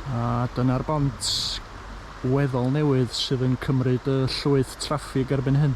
A dyna'r bont weddol newydd sydd yn cymryd y llwyth traffig erbyn hyn.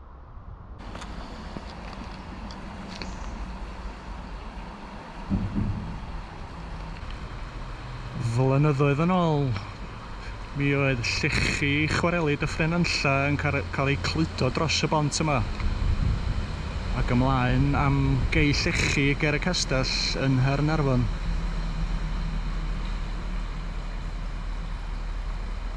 Flynyddoedd yn ôl, mi oedd llechi chwareli Dyffryn Nantlle yn cael eu cludo dros y bont yma, ac ymlaen am gei llechi ger y castell yn Nghaernarfon.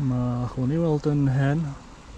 Mae hwn i weld yn hen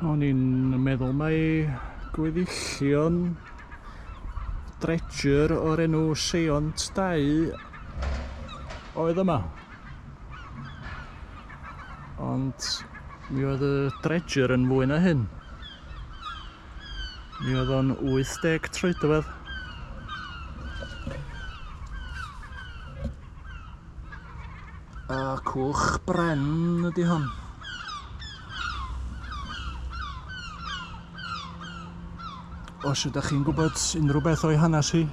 O'n i'n meddwl mai gweddillion dredger o'r enw Seont 2 oedd yma. Ond mi oedd y dredger yn fwy na hyn. Mi oedd o'n 80 troedfedd. A cwch bren ydy hon. Os ydych chi'n gwybod unrhyw beth o'i hanes hi,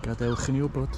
gadewch i ni wybod.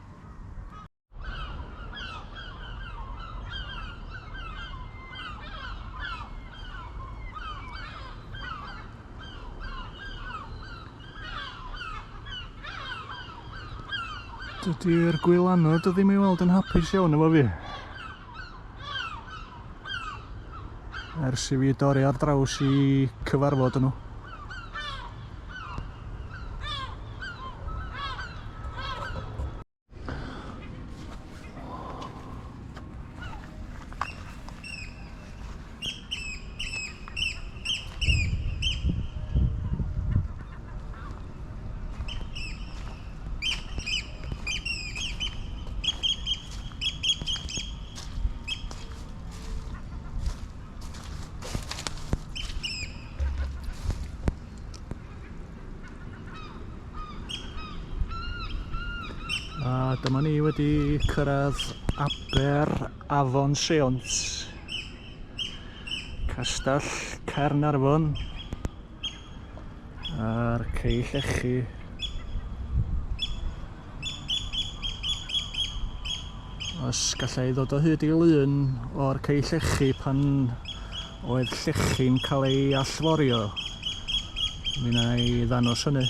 Dydy'r gwylanod o ddim i weld yn hapus iawn efo fi. ers i fi dorri ar draws i cyfarfod nhw. Dyma ni wedi cyrraedd aber Afon Seont, Castell Caernarfon a'r Cei Llechi. Os gallai ddod o hyd i lun o'r Cei Llechi pan oedd llechi'n cael ei allforio, mi na i ddanos hynny.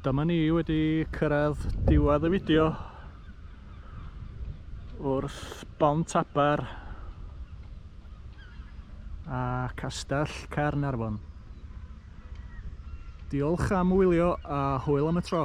Dyma ni wedi cyrraedd diwedd y fideo wrth Bont Aber a Castell Caernarfon. Diolch am wylio a hwyl am y tro.